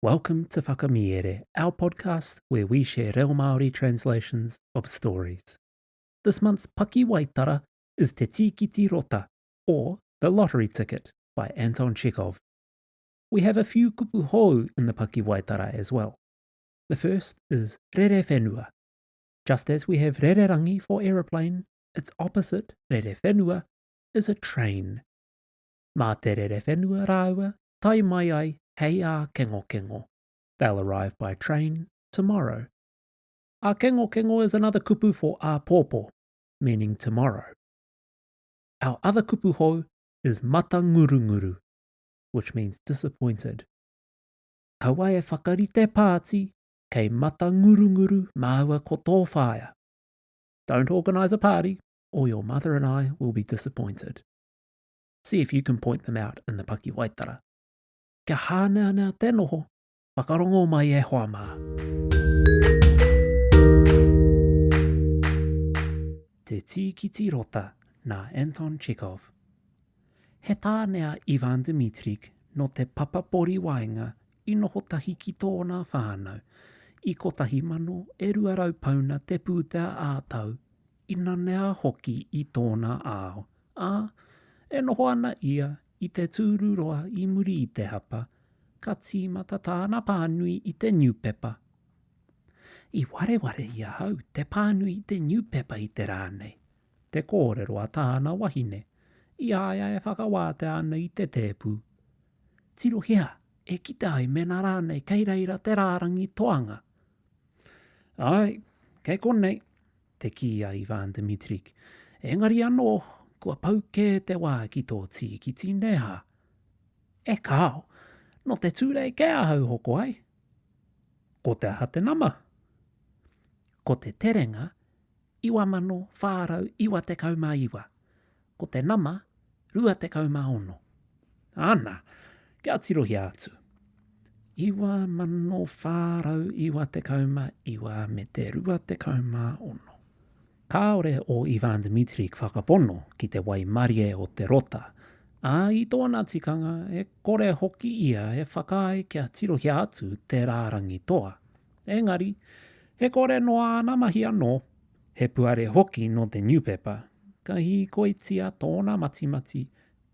Welcome to Whakamiere, our podcast where we share reo Māori translations of stories. This month's pakiwaitara is Te Tīkiti Rota, or The Lottery Ticket by Anton Chekhov. We have a few kupu hou in the pakiwaitara as well. The first is Rere Whenua. Just as we have Rere Rangi for aeroplane, its opposite, Rere Whenua, is a train. Mā te Rere Whenua rāua tae mai ai hei ākengokengo. They'll arrive by train tomorrow. Ākengokengo is another kupu for āpōpō, meaning tomorrow. Our other kupu hou is matangurunguru, which means disappointed. Kaua e whakarite pāti kei matangurunguru māua ko tō whaea. Don't organise a party or your mother and I will be disappointed. See if you can point them out in the pakiwaitara. Kia hāneanea te noho, whakarongo mai e hoa mā. Te Tīkiti Rota nā Anton Chekhov He tāne a Ivan Dmitrich nō te papapori waenga i noho tahi ki tōna whānau i 1000 e 200 pauna te pūtea ā-tau i nanea hoki i tōna ao, ā, e noho ana ia i te tūruroa i muri i te hapa, ka tīmata tāna pānui i te niupepa. I wareware i ahau te pānui i te niupepa i te rā nei, te kōrero a tāna wahine, i a ia e whakawātea ana i te tēpu. Tirohia e kite ai mēnā rānei kei reira te rārangi toanga. Āe, kei konei, te kī a Ivan Dmitric. Engari anō, kua pau kē te wā ki tō tīkiti, nē hā? E kāo, nō te Tūrei kē ahau hoko ai. Ko te aha te nama? Ko te terenga 9499. ko te nama 26. Ana, kia tirohia atu. 9499 me te 26. Kāore ō Ivan Dmitri ki whakapono ki te waimarie o te rota, ā, i tōna tikanga e kore hoki ia e whakaae kia tirohia atu te rārangi toa. Engari, e kore noa ana mahi anō. He puare hoki nō te niupepa, ka hīkoitia tōna matimati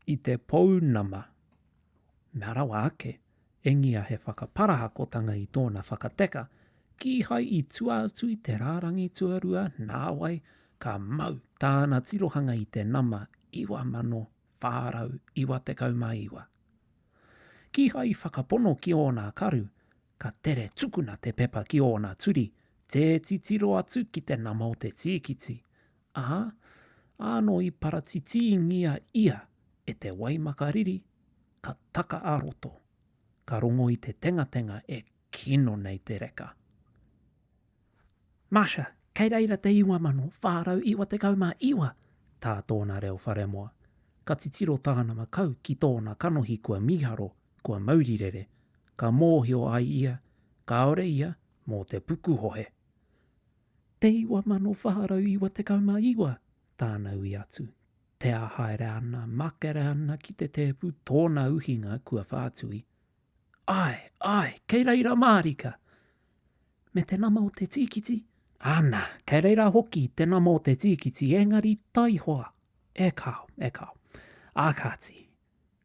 i te pounama. Mea rawa ake, engia he whakaparahakotanga i tōna whakateka, kīhai i tua atu i te rārangi tuarua nāwai ka mau tāna tirohanga i te nama 9499. Kīhai i whakapono ki ōna karu, Ka tere tukuna te pepa ki ōna turi, tē titiro atu ki te nama o te tīkiti, ā, ānō i paratitīngia ia e te waimaka riri ka taka ā-roto, ka rongo i te tengatenga e kino nei te reka. Masha, kei reira te 9499 tā tōna reo wharemoa. Ka titiro tāna makau ki tōna kanohi kua mīharo, kua maurirere, ka mōhio ai ia kāore ia mō te pukuhohe. Te 9499 tāna ui atu, tea haere ana, makere ana ki te tēpu tōna uhinga kua whātui, Ae, ae, kei reira mārika. Me te nama o te tīkiti? Ana, kei reira hoki te nama o te tīkiti, engari taihoa. E kao, e kao. Ā kāti,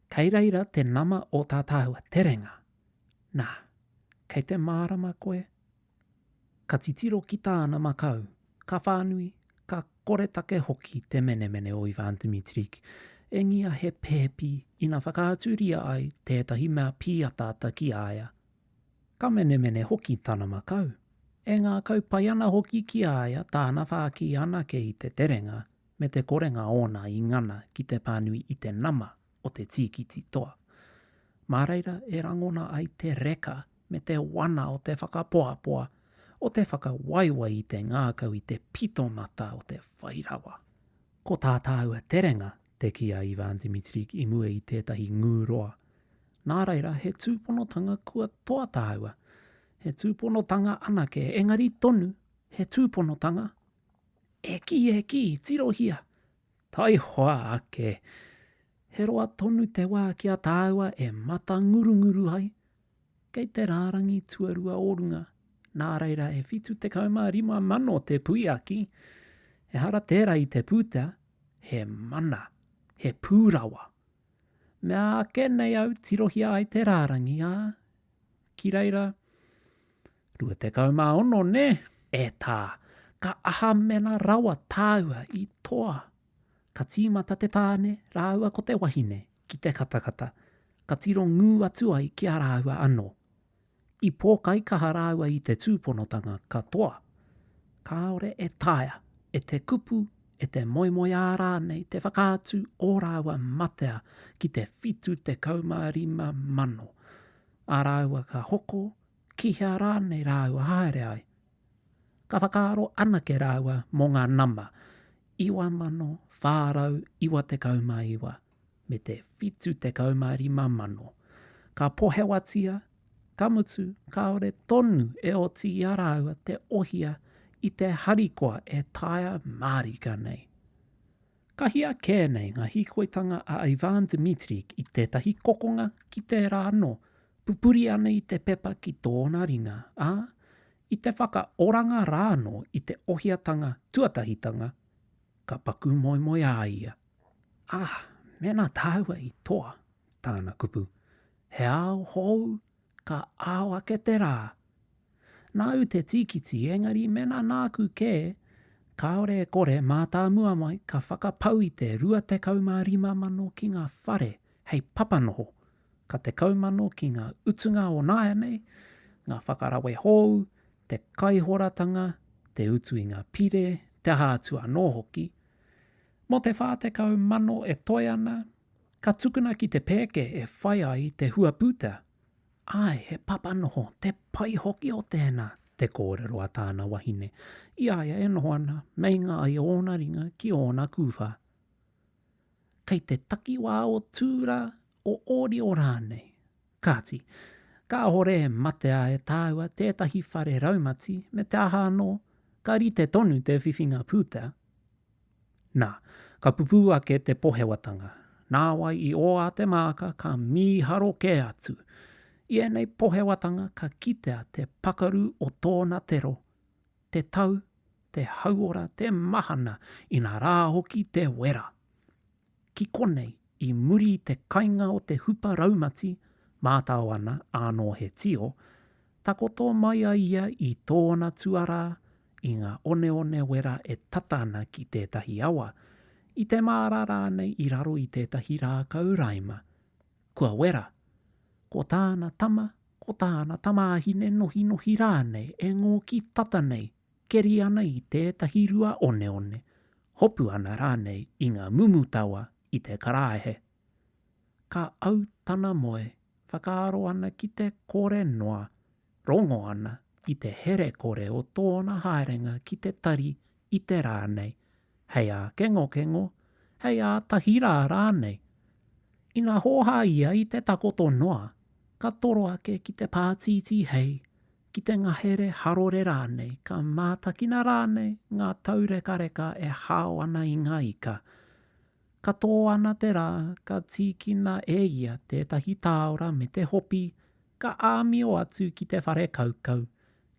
kei reira te nama o tā tāua terenga. Nā, kei te mārama koe ka titiro ki tāna makau, ka whānui, ka koretake hoki te menemene o Ivan Dmitrich, engia he pēpi ina whakaaturia ai tētahi mea pīataata ki a ia. Ka menemene hoki tana makau, e ngākau pai ana hoki ki a ia tāna whāki anake i te terenga me te korenga ōna i ngana ki te pānui i te nama o te tīkiti toa. Mā reira e rangona ai te reka me te wana o te whakapoapoa, o te whakawaiwai i te ngākau i te pitomata o te whai rawa. Ko tā tāua terenga te kī a Ivan Dimitric i mua i tētahi ngū roa, nā reira he tūponotanga kua toa tāua, he tūponotanga anake, engari tonu, he tūponotanga e kī, e kī, tirohia, Taihoa ake, he roa tonu te wā ki a tāua e matangurunguru ai, kei te rārangi tuarua o runga, nā reira e 75 mano te puiaki, ehara tērā i te pūtea, he mana, he pūrawa. Mea ake nei au tirohia ai te rārangi, ā, Ki reira, 26 nē? E tā, ka aha mena rawa tāua i toa? Ka tīmata te tāne rāua ko te wahine ki te katakata, ka tiro ngū atu ai ki a rāua anō. I pōkaikaha rāua i te tūponotanga katoa. Kāore e taea e te kupu e te moemoeā rānei te whakaatu ō rāua matea ki te whitu tekau mā rima mano, ā rāua ka hoko, ki hea rānei rāua haere ai. Ka whakaaro anake rāua mō ngā nama, 9,499. me te 75,000. Ka pohewatia, ka mutu, kāore tonu e oti i a rāua te ohia i te harikoa e taea mārika nei. Ka hia kē nei ngā hīkoitanga a Ivan Dmitriuk i tētahi kokonga ki tērā anō, pupuri ana i te pepa ki tōna ringa, ā, i te whakaoranga rānō i te ohiatanga tuatahitanga Ka paku moemoe a ia. Ah, mēnā tāua i toa, tāna kupu, he ao hou, ka ao ake te rā. Nāu te tīkiti engari mēnā nāku kē, kāore e kore mātāmua mai ka whakapau i te rua tekau mā rima mano ki ngā whare hei papanoho, ka tekau mano ki ngā utunga o nāianei, ngā whakarawe hou, te kaihoratanga, te utu i ngā pire, te aha atu anō hoki. Mō te 40 mano e toe ana, ka tukuna ki te pēke e whai ai te huaputa. Āe, he papa noho, te pai hoki o tēnā, te kōrero a tāna wahine, i a ia e noho ana meinga ai ōna ringa ki ōna kūwha. kei te takiwā o Tūra, o Ōrio rānei. Kāti, kāore e matea e tāua tētahi whare raumati me te aha anō, ka rite tonu te whiwhinga pūtea. Nā, ka pupū ake te pohewatanga, nāwai i oā te māka ka mīharo kē atu. I ēnei pohewatanga ka kitea te pakaru o tōna tero, te tau, te hauora, te mahana, inā rā hoki te wera. Ki konei, i muri i te kainga o te hupa raumati, mātao ana ānō he tio, takoto mai a ia i tōna tuarā i ngā oneone wera e tata ana ki tētahi awa, i te māra rānei i raro i tētahi rākau raima. Kua wera, ko tāna tama ko tāna tamāhine nohinohi rānei e ngōki tata nei, keri ana i tētahi rua oneone, hopu ana rānei i ngā mumu tawa i te karaehe. Ka au tana moe, whakaaro ana ki te kore noa, rongo ana i te here kore o tōna haerenga ki te tari i te rā nei, hei ākengokengo, hei ātahi rā rānei. Ina hōhā ia i te takoto noa, ka toro ake ki te pātītī hei, ki te ngahere harore rānei, ka mātakina rānei ngā taurekareka e hao ana i ngā ika. Ka tō ana te rā, ka tīkina e ia tētahi tāora me te hopi, ka āmio atu ki te whare kaukau,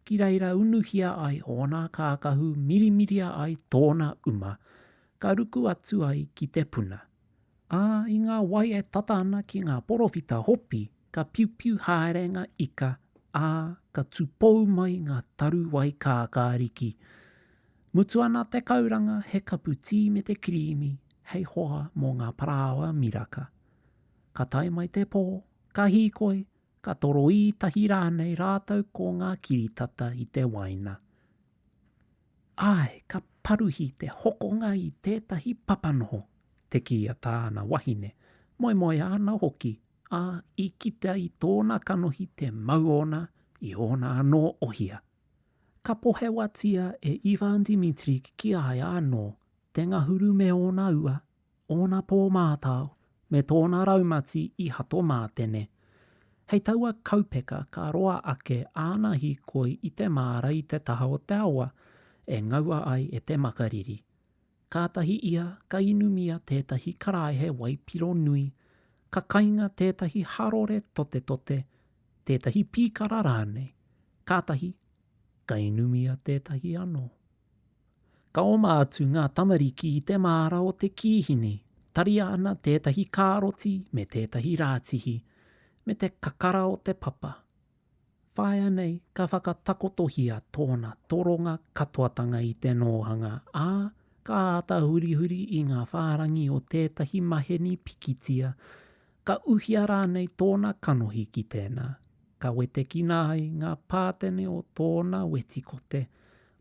Ki reira unuhia ai ōna kākahu mirimiria ai tōna uma, ka ruku atu ai ki te puna. Ā, i ngā wai e tata ana ki ngā porowhita hopi, ka piupiu haere ngā ika, ā, ka tūpou mai ngā taru wai kākāriki. Mutu ana te kauranga he kapu tī me te kirīmi hei hoa mō ngā parāoa miraka. Ka tae mai te pō, ka hīkoi, ka toroī tahi rānei rātou ko ngā kiritata i te waina. Āe, ka paruhi te hokonga i tētahi papanoho, te kī a tāna wahine, moemoeā ana hoki, ā, i kitea i tōna kanohi te mau ōna i ōna anō ohia. Ka pohewatia e Ivan Dimitric ki a ia anō te ngahuru me ōna ua ōna pō mātao, me tōna raumati i hato mātene. Hei taua kaupeka ka roa ake āna hīkoi i te māra i te taha o te awa e ngaua ai e te makariri. Kātahi ia ka inumia tētahi karaehe waipiro nui, ka kainga tētahi harore totetote, tētahi pīkara rānei, kātahi ka inumia tētahi anō. Ka oma atu ngā tamariki i te māra o te kīhini, taria ana tētahi kāroti me tētahi rātihi, me te kakara o te papa. Whāia nei ka whakatakotohia tōna toronga katoatanga i te nōhanga, ā, ka āta hurihuri i ngā whārangi o tētahi maheni pikitia Ka uhia rānei tōna kanohi ki tēnā, ka wetekina ai ngā pātene o tōna wetikote,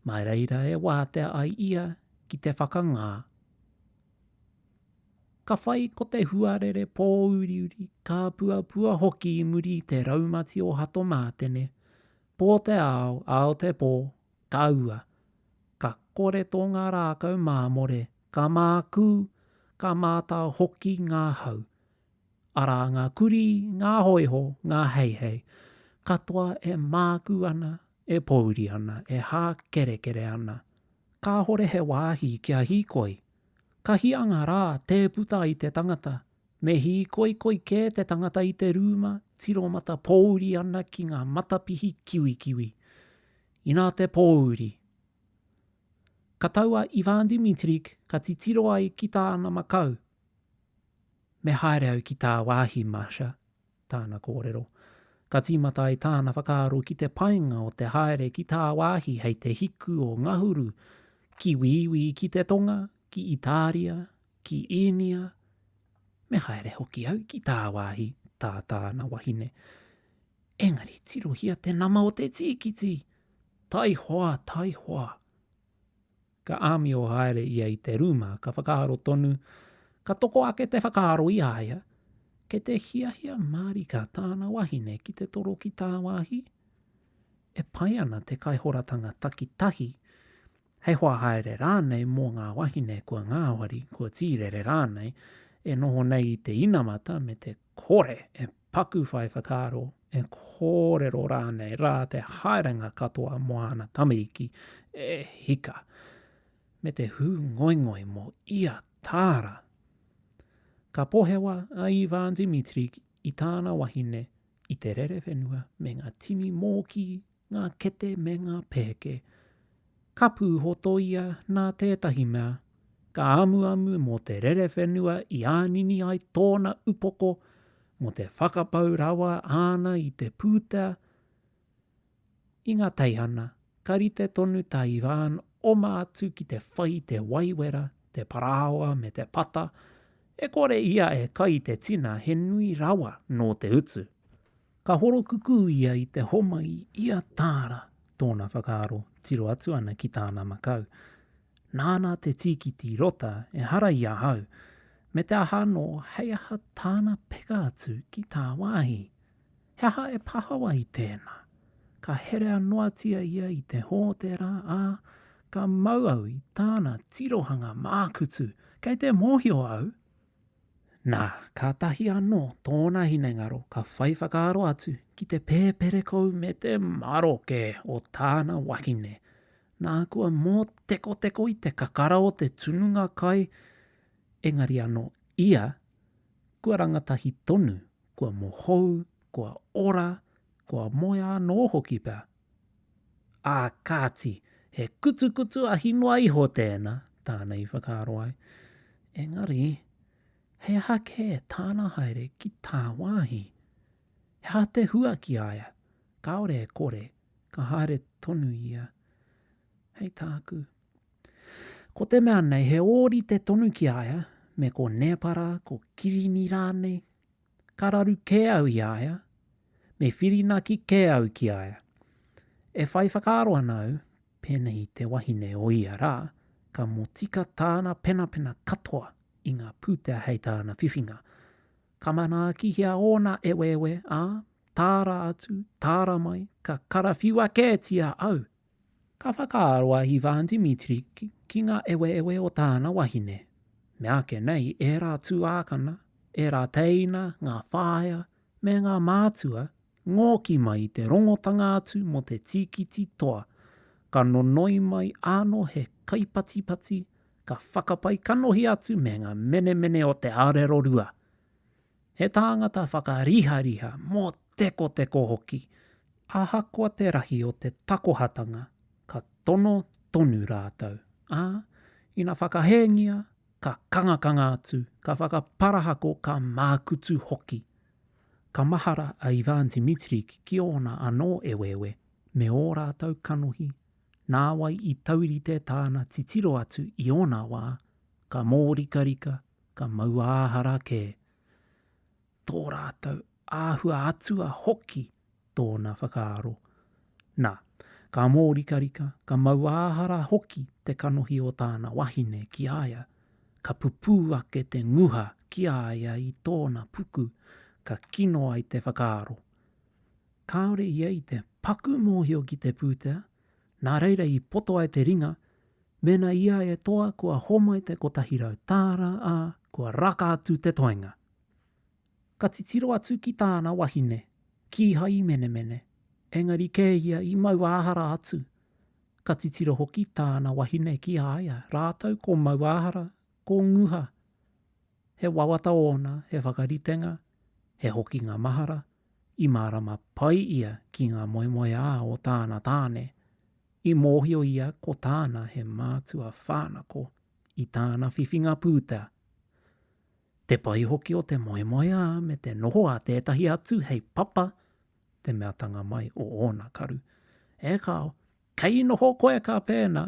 mā reira e wātea ai ia ki te whakangā. Ka whai ko te huarere pōuriuri, kāpuapua hoki i muri i te raumati o Hatomātene, pō te ao, ao te pō, ka ua. Ka kore tō ngā rākau māmore Ka mākū, ka mātao hoki ngā hau. Arā ngā kurī, ngā hōiho, ngā heihei, katoa e mākū ana, e pōuri ana, e hākerekere ana. Kāhore he wāhi kia hīkoi. Ka hianga rā tē puta i te tangata. Me hīkoikoi kē te tangata i te rūma, tiromata pōuri ana ki ngā matapihi kiwikiwi. Inā te pōuri. ka tau a Ivan Dimitrik ka titiro ai ki tāna makau. Me haere au ki tāwāhi, Masha, tāna kōrero. Ka tīmata ai tāna whakaaro ki te painga o te haere ki tāwāhi hei te hiku o Ngahuru ki Wīwī ki te tonga, ki Itāria, ki Īnia. Me haere hoki au ki tāwāhi, tā tāna wahine. Engari tirohia te nama o te tīkiti! Taihoa, taihoa! Ka āmio haere ia i te rūma, ka whakaaro tonu, ka toko ake te whakaaro i a ia, kei te hiahia mārika tāna wahine ki te toro ki tāwāhi? E pai ana te kaihoratanga takitahi, hei hoa haere rānei mō ngā wahine kua ngāwari, kua tīrere rānei, e noho nei i te inamata me te Kore e paku whai whakaaro, e kōrero rānei rā te haerenga katoa mō āna tamariki, e hika, me te hū ngoingoi mō ia tāra. Ka pohewa a Ivan Dimitric i tāna wahine i te rerewhenua me ngā tini mōkī ngā kete me ngā pēke. Ka pūhotoia nā tētahi mea, ka amuamu mō te rerewhenua i ānini ai tōna upoko, mō te whakapau rawa āna i te pūtea. I ngā teihana, ka rite tonu tā Ivan oma atu ki te whai i te waiwera, te parāoa me te pata, e kore ia e kai i te tina he nui rawa nō te utu. Ka horokukū ia i te homai i a Tāra tōna whakaaro tiro atu ana ki tāna makau. Nāna te tīkiti rota ehara i ahau, me te aha anō hei aha tāna peka atu ki tāwāhi. He aha e pahawa i tēnā? Ka herea noatia ia i te hōtera, ā, ka mau au i tāna tirohanga mākutu, kei te mōhio au! Nā, kātahi anō tōna hinengaro ka whai whakaaro atu ki te pēperekou me te maroke o tāna wahine, nā kua mōtekoteko i te kakara o te tununga kai, engari anō ia, kua rangatahi tonu, kua mohou, kua ora, kua moea anō hoki pea Ā kāti, he kutukutu ahi noa iho tēnā, tāna i whakaaro ai. Engari, he aha kē tāna haere ki tāwāhi? He aha te hua ki a ia, kāore e kore, ka haere tonu ia? Hei tāku, ko te mea nei he ōrite tonu ki a ia, me ko Nēpara, ko Kirini rānei, ka raru kē au i a ia, me whirinaki kē au ki a ia. E whai whakaaro ana au, pēnei i te wahine o ia rā, ka motika tāna penapena katoa i ngā pūtea hei tāna whiwhinga. Ka manaakihia ōna eweewe, ā, tāra atu, tāra mai, ka karawhiua kētia au Ka whakaaro a Ivan Dmitri ki ngā eweewe o tāna wahine. Meāke nei ērā tuākana, ērā tēina, ngā whāea, me ngā mātua, ngōki mai i te rongotanga atu mō te tīkiti toa, ka nonoi mai āno he kaipatipati, ka whakapai kanohi atu me ngā menemene o te arero rua. He tāngata whakarihariha, mōtekoteko hoki, ahakoa te rahi o te takohatanga, ka tono tonu rātou, ā, ina whakahēngia, ka kangakanga atu, ka whakaparahako, ka mākutu hoki. Ka mahara a Ivan Dmitrich ki ōna anō eweewe me ō rātou kanohi, nāwai i taurite tāna titiro atu i ōna wā, ka mōrikarika, ka mauāhara kē tō rātou āhua atua hoki tōna whakaaro. Nā, ka mōrikarika, ka mauāhara hoki te kanohi o tāna wahine ki a ia, ka pupū ake te nguha ki a ia i tōna puku ka kino ai te whakaaro. Kāore ia i te paku mōhio ki te pūtea, Nā reira i poto ai te ringa, mēnā i a e toa kua homai te kotahi rau tāra, ā, kua raka atu te toenga. Ka titiro atu ki tāna wahine, kīhai i menemene, engari kē ia i mauāhara atu. Ka titiro hoki tāna wahine ki a ia, rātou ko Mauāhara, ko Nguha. He wawata ōna, he whakaritenga, he hokinga mahara, I mārama pai ia ki ngā moemoeā o tāna tāne. I mōhio ia ko tāna he mātua whānako i tāna whiwhinga pūtea. Te pai hoki o te moemoeā me te noho a tētahi atu hei papa te meatanga mai o ōna karu. E kāo, kei noho koe ka pēnā!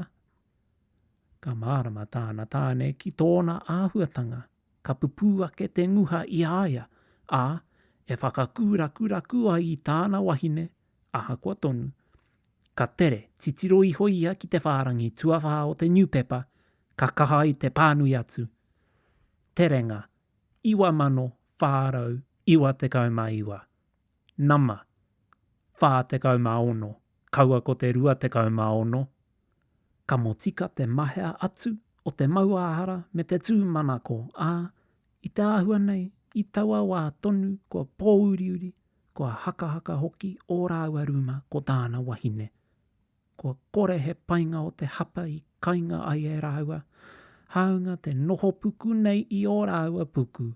Ka mārama tāna tāne ki tōna āhuatanga ka pupū ake te nguha i a ia, ā, e whakakūrakuraku ai i tāna wahine, ahakoa tonu. Ka tere, titiro iho ia ki te whārangi tuawhā o te niupepa, ka kaha i te pānui atu, Terenga, 9499. Nama, 46, kaua ko te 26. Ka motika te mahea atu o te mauāhara me te tūmanako, ā, i te āhua nei, i taua wā tonu kua pōuriuri, kua hakahaka hoki ō rāua rūma ko tāna wahine. Kua kore he painga o te hapa i kainga ai e rāua, hāunga te noho puku nei i ō rāua puku,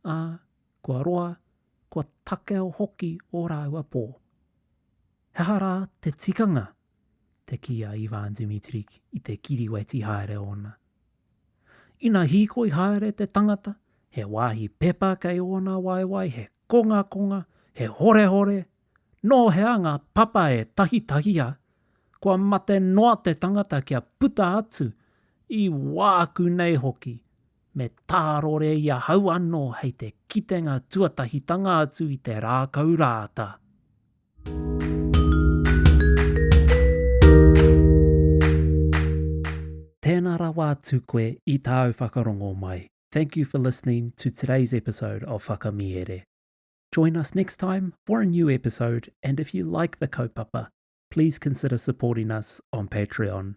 ā, Kua roa, kua takeo hoki ō rāua pō. He aha rā te tikanga? te kī a Ivan Dimitric i te kiriweti haere ōna. Ina hīkoi haere te tangata, he wāhi pepa kei ōna waewae he kongakonga, he horehore, nō hea ngā papa e tahitahia, kua mate noa te tangata kia puta atu, i wāku nei hoki, me tārore i ahau anō hei te kitenga tuatahitanga atu i te rākau rāata. Tēnā rawa atu koe i tāu whakarongo mai. Thank you for listening to today's episode of Whakamihere. Join us next time for a new episode and if you like the kaupapa, please consider supporting us on Patreon.